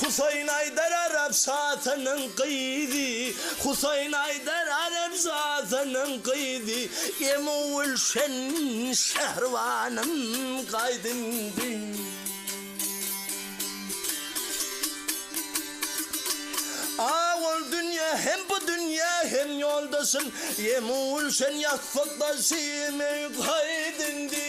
Husaýyn Aýdar arap şasynyň gyzy, Husaýyn Aýdar arap şasynyň gyzy, Emo Gülşen Şähribanym gaýt indi. Ah ol dünýe hem bu dünýe hem ýoldaşym, Emo Gülşen ýassyk daşym eý gaýt indi.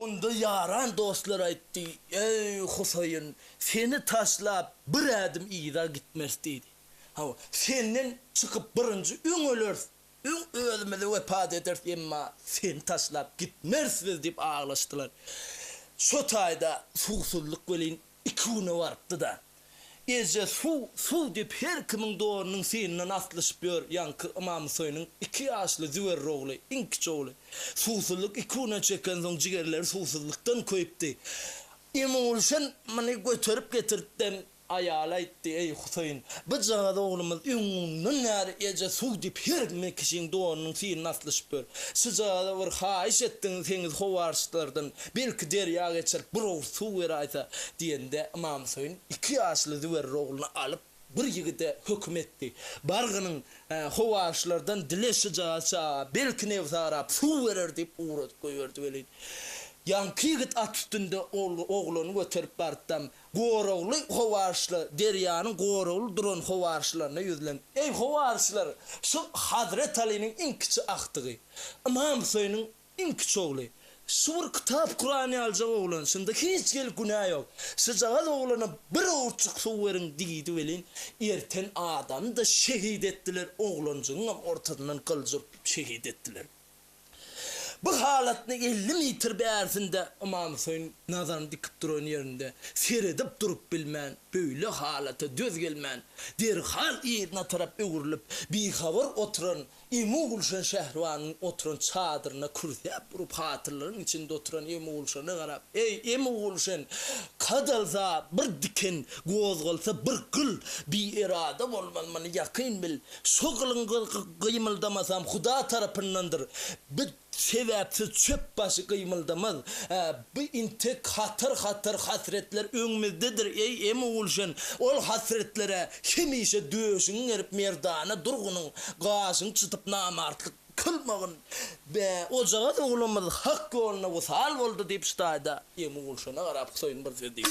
Onda ýaran dostlar aýtdy, Eý, Husaýyn, seni taşlap, bir ädim yza gitmeris diýdi. Hawa, senden çykyp birinji öň öleris, öň özümizi wepat ederis, emma seni taşlap gitmeris biz diýip aglaşdylar. Şo taýda suwsuzlyk welin Iki güne barypdy-da. Eje suw, suw diýip her kimiň donunyň synyndan aslyşyp ýör, ýaňky Ymamhüseýiniň iki ýaşly Züwerr ogly, iň kiçi ogly. Suwsuzlyk iki güne çekensoň jigerleri suwsuzlykdan köýüpdi. Emogulşan muny göterip getirtden aýala aýtdy, Eý, Hüseýin, bujagaz oglumyz öňňundan bäri eje suw diýip her kimiň kişiň donunyň synyndan aslyşyp ýör. Şujagaza bir haýyş etdiňiz heňiz howarçlardan. Belki derýa geçer, bir owurt suw beraýsa, diýende, Ymam Hüseýin iki ýaşly Züwerri ogluny alyp, bir ýigide höküm etdi, Bar gynyň, howaryçlardan dile şyjagat çaga, belki nebsarap suw berer diýip ugradyp goýberdi welin, ýaňky ýigit at üstünde oglany göterip bartdam, goragly howaryçlar, derýanyň goragly duran howaryçlaryna ýüzlenip, Eý, howaryçlar, şu Hazret Alynyň iň kiçi agtygy, Ymam Hüseýiniň Iň kiçi ogly, Şu bir kitap Kuran ýaljak oglan, şunda hiç gelip günä ýok. Şujagaz oglana bir owurçuk suw beriň diýdi welin, erten adamy-da şehit etdiler, oglanjygyňam ortazyndan gylyjy urtup şehit etdiler. Bu halatny elli mitr bärsinde Ymam Huseýin nazaryny dikip duran ýerinde seredip durup bilmän, böyle halata döz gelmän, derhal yzyna tarap öwrülip, bihabar oturan Emu Gulşan Şähribanyň oturan çadyryna kürsäp urup, hatyrlaryň içinde oturan Emu Gulşana garap, Eý, Emu Gulşan, kadalsa bir diken, gozgalsa bir gyl, bierada bolmaz, muny ýakyn bil. Şo gylyň gymyldamasam Huda tarapyndandyr. Biz Sebäpsiz çöp başy gymyldamaz. Ä, bu intek hatar-hatar hasretler öňümizdedir, eý, Emogulşen! Ol hasretlere hemişe döşüňi gerip merdana durgunyň, gaşyňy çytyp namartlyk kylmagyn. Bä, ojagaz oglanymyz hak ýoluna wysal boldy, diýip, Ştaýda Emogulşene garap Huseýin bir söz diýdi.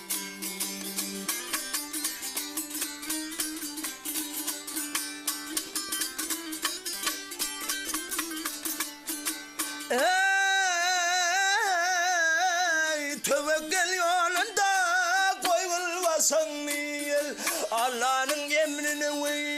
Eý, töwekgel ýolunda goýulmasaň niýel, Allanyň emrine weý.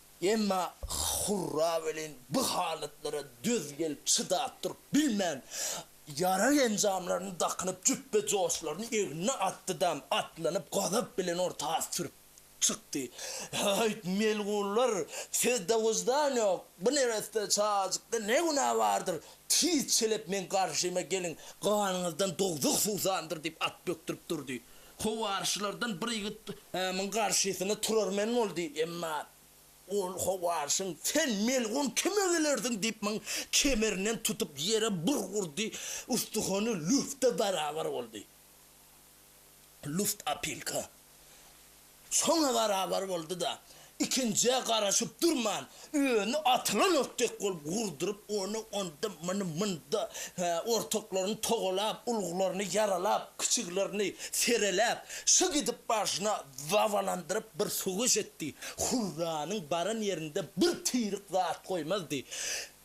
Emma Hurra welin bu halatlara döz gelip çydap durup bilmän, ýarag enjamlaryny dakynyp jüpbe joşlaryny egnine atdy-da, atlanyp gazap bilen orta at sürüp çykdy. Haýt, melgunlar, sizde wyždan ýok, bu neresse çajykda ne günä bardyr, tiz çelep meň garşyma geliň, ganyňyzdan dowzah suwsandyr, diýip at bökdürip durdy. Howaryşlardan bir ýigit Ymamyň garşysyna turar men bol diýdi. Ymam, Ol howaryşyň sen melgun kime gelersiň diýip muň kemerinden tutup ýere bir urdy, ustuhany lufta barabar boldy. Luft opilka. Şoňa barabar boldy-da, ikinjä garaşyp durman, öni atylan ot dek bolup gurduryp, ony onda, muny munda, hä, ortaklaryny togalap, uluglaryny ýaralap, kiçiglerini sereläp, şyg edip başyna zabalandyryp bir söweş etdi. Hurranyň baran ýerinde bir tirik zat goýmazdy.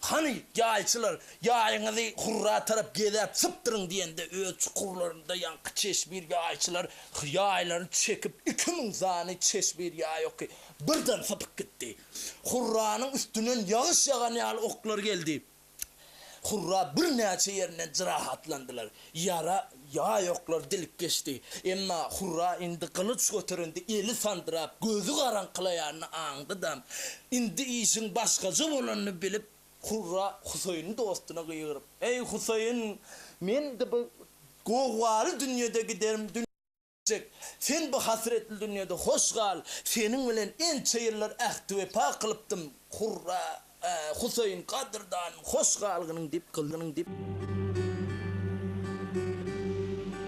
Hany, ýaýçylar, ýaýyňyzy Hurra tarap gezäp sypdyryň diýende, öz çukurlarynda ýaňky çeşmir ýaýçylar ýaýlaryny çekip, iki müň sany çeşmir ýaý oky birden sypyp gitdi. Hurranyň üstünden ýagyş ýagan ýaly oklar geldi. Hurra birnäçe ýerinden jyrahatlandylar. Ýara Ýaýoklar dilip geçdi. Emma Hurra indi gylyç göterende eli sandyrap, gözi garaňkylaýanyny aňdy-da, indi işiň başgaça bolanyny bilip, Hurra Husaýyny dostuna gygyryp, Eý, Husaýyn, men-de bu gowgaly dünýede giderim, dünýä. Çek, sen bu hasretli dünýede hoş gal, Seniň bilen ençe ýyllar ähti-wepa kylypdym, Hurra, a, Huseýin, gadyrdanym, hoş galgynyň dip, gylynyň dip.